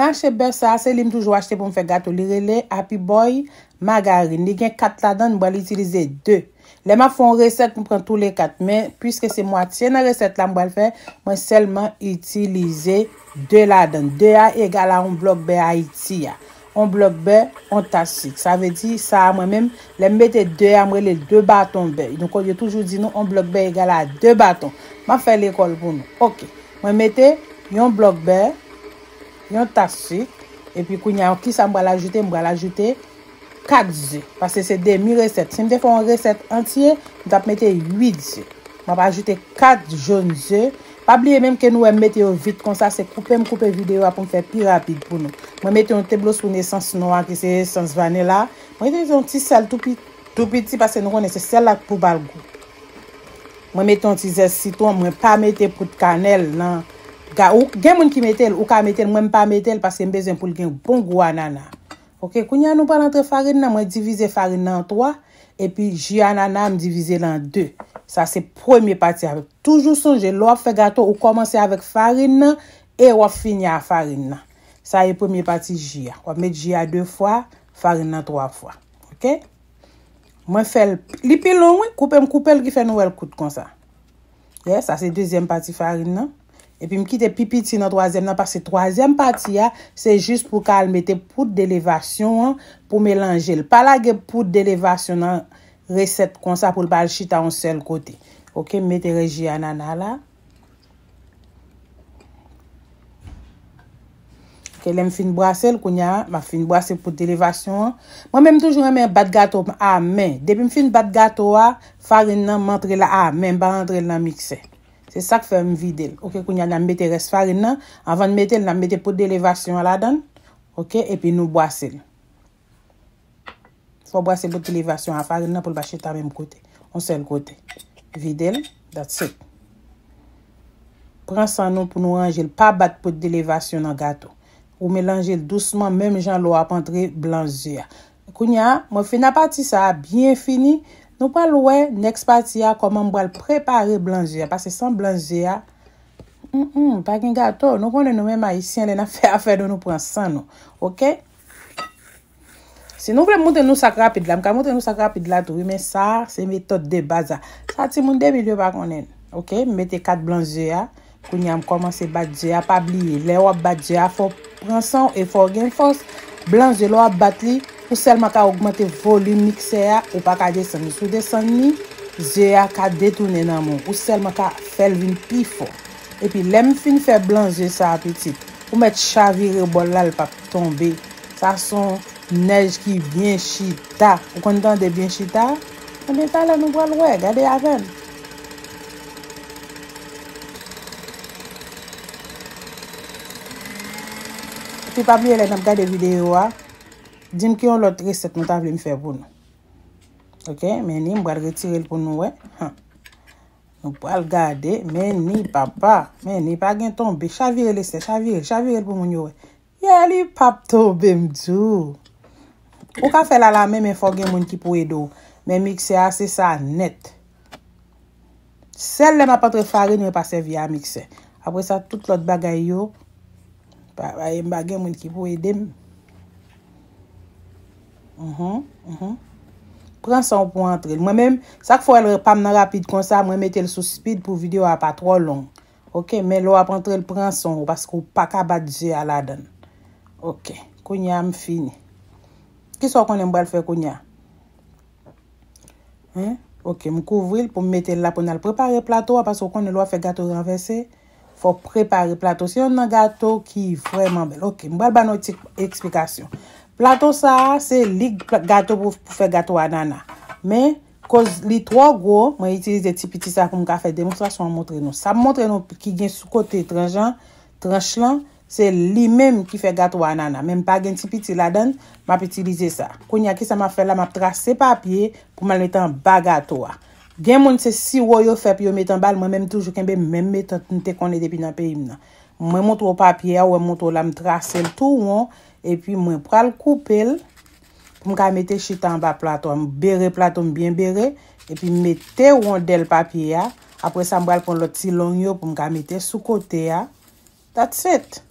Mache bèf sa a se li m toujou achte pou m fè gato li rele Happy Boy Margarine li gen 4 ladan m pral itilize 2 lè m ap fè yon resèt m pran tou le 4 men puiske se mwatye nan resèt la m pral fè mwen sèlman itilize 2 ladan 2 a egal a yon blòk bè Ayiti a yon blòk bè yon tas sik sa vle di sa a mwen menm lè m mete 2 a m rele l 2 baton bè yo toujou di nou yon blòk bè egal a 2 baton m ap fè lekòl pou nou ok mwen mete yon blòk bè. Yon tas su. Epi kounya kisa m pral ajoute? M pral ajoute 4 zu. Pase se demi resèt. Si m te fè yon resèt antye, m t ap mete 8 zu. M ap ajoute 4 jòn ze. Pa bliye menm ke nou wè m mete yo vit konsa, se koupe m koupe videyo a pou m fè pi rapid pou nou. Mwen mete yon teblospoun esans nwa ki se esans vanila. Mwen itilize yon ti sèl tou piti pase nou konnen se sèl la k pou ba l gou. Mwen mete yon ti zès sitwon mwen pa mete poud kanèl nan ga ou gen moun ki metel ou ka metel mwen mpa metel paske mbezwen poul gen bon gou anana ok kounya nou pral antre farin nan mwen divize farin nan an 3 epi ji anana m divizel an 2 sa se premye pati a toujou sonje lè wap fè gato ou kòmanse avèk farin nan e wap fini a farin nan sa e premye pati ji a wap met ji a 2 fwa farin nan 3 fwa ok. Mwen fèl li pi long wi koupe m koupel ki fè nou wèl kout konsa. Yes sa se dezyèm pati farin nan. Epi m kite pi piti nan twazyèm nan paske twazyèm pati a se jis pou ka al mete poud de levasyon an pou melanje l. Pa lage poud de levasyon nan resèt konsa pou l pa al chita yon sèl kote. Ok m mete res ji anana la. Ok lèm fin brasel kounya map fin brase poud elevasyon an. Mwen menm toujou renmen bat gato m a men. Depim fin bat gato a, farin nan m antre l a men m pa rantre l nan miksè. Se sak fè m vide l. Ok kounya na mete rès farin nan, avan n mete l na mete poud elevasyon an ladan l. Ok epi nou bwase l. Fò brase bout elevasyon a farin nan pou l pa chita menm kote. On sèl kote. Vide l. That's it. Pran san nou pou nou ranje l. Pa bat bout elevasyon nan gato. Ou melanje l dousman menm jan lò ap antre blan ze a. Kounye a, mwen fin a pati sa a byen fini. Nou pral wè next pati a kòman m pral prepare blan ze a. Pase san blan ze a, hum hum, pa gen gato. Nou konnen nou menm Ayisyen lè n ap fè afè nou nou pran san nou. Ok? Si nou vle m montre nou sak rapid la, m ka montre nou sak rapid la tou wi men sa se metòd de baz la. Sa timoun 2000 yo pa konnen l. Ok, m mete 4 blan ze a, kounye a m kòmanse bat ze a, pa bliye lè wap bat ze a fò w pran san w e fò w gen fòs, blan ze lè wap bat li ou sèlman ka ogmante volim miksè a ou pa ka desann li, si w desann li ze a ka detounen nan men w, ou sèlman ka fè l vin pi fò. Epi lèm fin fè blan zye sa pitit ou mèt chavire bòl la l pap tonbe sa son nèj ki byen chita ou konn tande byen chita ebyen talè nou pral wè gade avèm. Epi pa bliye lè nap gade videyo a dim ki yon lòt resèt nou ta vle m fè pou nou ok men li m pral retire l pou nou wè Nou pral gade Menni papa Menni pa gen tonbe chavire Lestè chavire chavire l pou moun yo wè Yeah li pap tonbe m di w Ou ka fè l a la men men fò gen moun ki pou ede w Men miksè a se sa nèt Sèl lè m ap antre farin mwen pa sèvi a miksè Apre sa tout lòt bagay yo pa m pa gen moun ki pou ede m. Pran sanw pou antrel. Mwen menm sak fè wèl pam nan rapid konsa mwen metel sou speed pou video a pa twò long ok men lè wap antrel pran sanw paske ou paka bat je a ladann ok kounya m fini kisa w konnen m pral fè kounya hein ok m kouvril poum metel la poun al prepare plato a paske w konnen lè wap fè gato ranvèse Fok prepare plato. Se yon nan gato ki vreman bel. Ok, m pral ba nou yon ti eksplikasyon. Plato sa a, se lig gato pou fe gato anana. Men, koz li tro gwo, mwen itilize ti piti sa pou m ka fe demonstrasyon an montre nou. Sa m montre nou ki gen sou kote tranjan, tranch lan, Se li menm ki fè gato anana men m pa gen ti piti ladan l m ap itilize sa. Kounye a ki sa m ap fè la m ap trase papye pou m al met anba gato a. Gen moun se siwo yo fè pou yo met anba l mwen menm m toujou kenbe menm metòd m te konnen depi nan peyi m nan. Mwen montre w papye a ou wè m montre w la m trase l tou won epi mwen pral koupe l pou m ka mete chita anba plato a. M bere plato m byen bere epi m mete wondèl papye a. Apre sa m pral pran lòt ti long yo pou m ka mete sou kote a. That's it.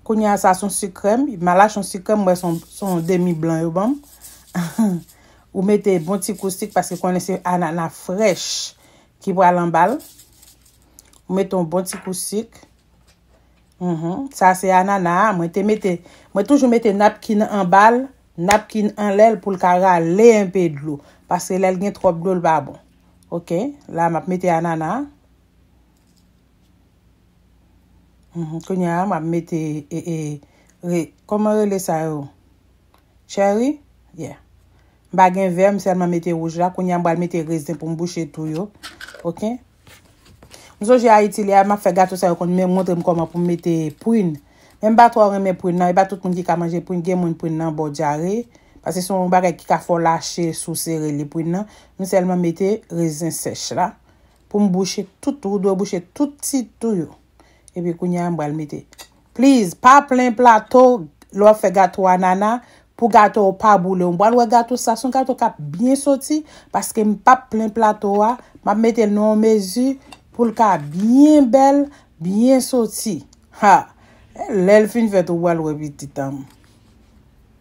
Kounye a sa son sik krèm. Ma lache yon sik krèm m wè son son demi blan yo banm. Ou mete bon ti kou sik paske konnen se anana frèch ki pral anbal. Ou mete yon bon ti kou sik. Uhmm sa se anana a mwen te mete mwen toujou mete napkin anbal napkin anlèl poul ka rale enpe dlo paske lèl gen trop dlo li pa bon ok la map mete anana a uhmm kounya map mete ee re kòman rele sa yo cherry yeah m pa gen vè m sèlman mete wouj la kounya m pral mete rezen poum bouche tou yo ok. M sonje Ayiti lè map fè gato sa yo konn menm montrem kòman poum mete prin men m pa twò renmen prin nan e pa tout moun ki ka manje prin gen moun prin nan baw dyare pase se yon bagay ki ka fè w lache si w sere li prin nan m sèlman mete rezen sèch la poum bouche tout ou dwe bouche tout ti tou yo. Epi kounye a m pral mete. Please pa plen plato lè w ap fè gato anana pou gato w pa boule w. M pral wè gato sa se yon gato k ap byen soti paske m p ap plen plato a. M ap mete l nan yon mezi pou l ka byen bèl, byen soti. Ha! Lè l fin fèt ou pral wè pitit an m.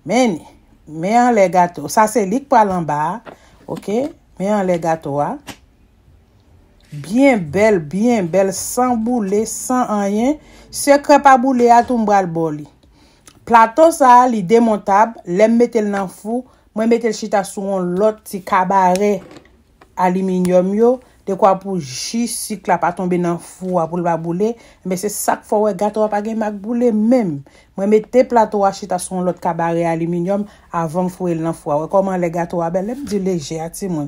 Men ni. Men anlè gato. Sa se li k pral anba a. Ok. Men anlè gato a. Byen bèl byen bèl san boule san anyen sekrè pa boule a tou m pral baw li plato sa li demontab lèm metel nan fou mwen metel chita sou yon lòt ti kabarè aliminyòm yo dekwa pou ji sik la pa tonbe nan fou a poul pa boule enben se sak fè w wè gato a pa gen mak boule menm mwen mete plato a chita sou yon lòt kabarè aliminyòm avanm fouyel nan fou a wè kòman lè gato a bèl lèm di lejè a timoun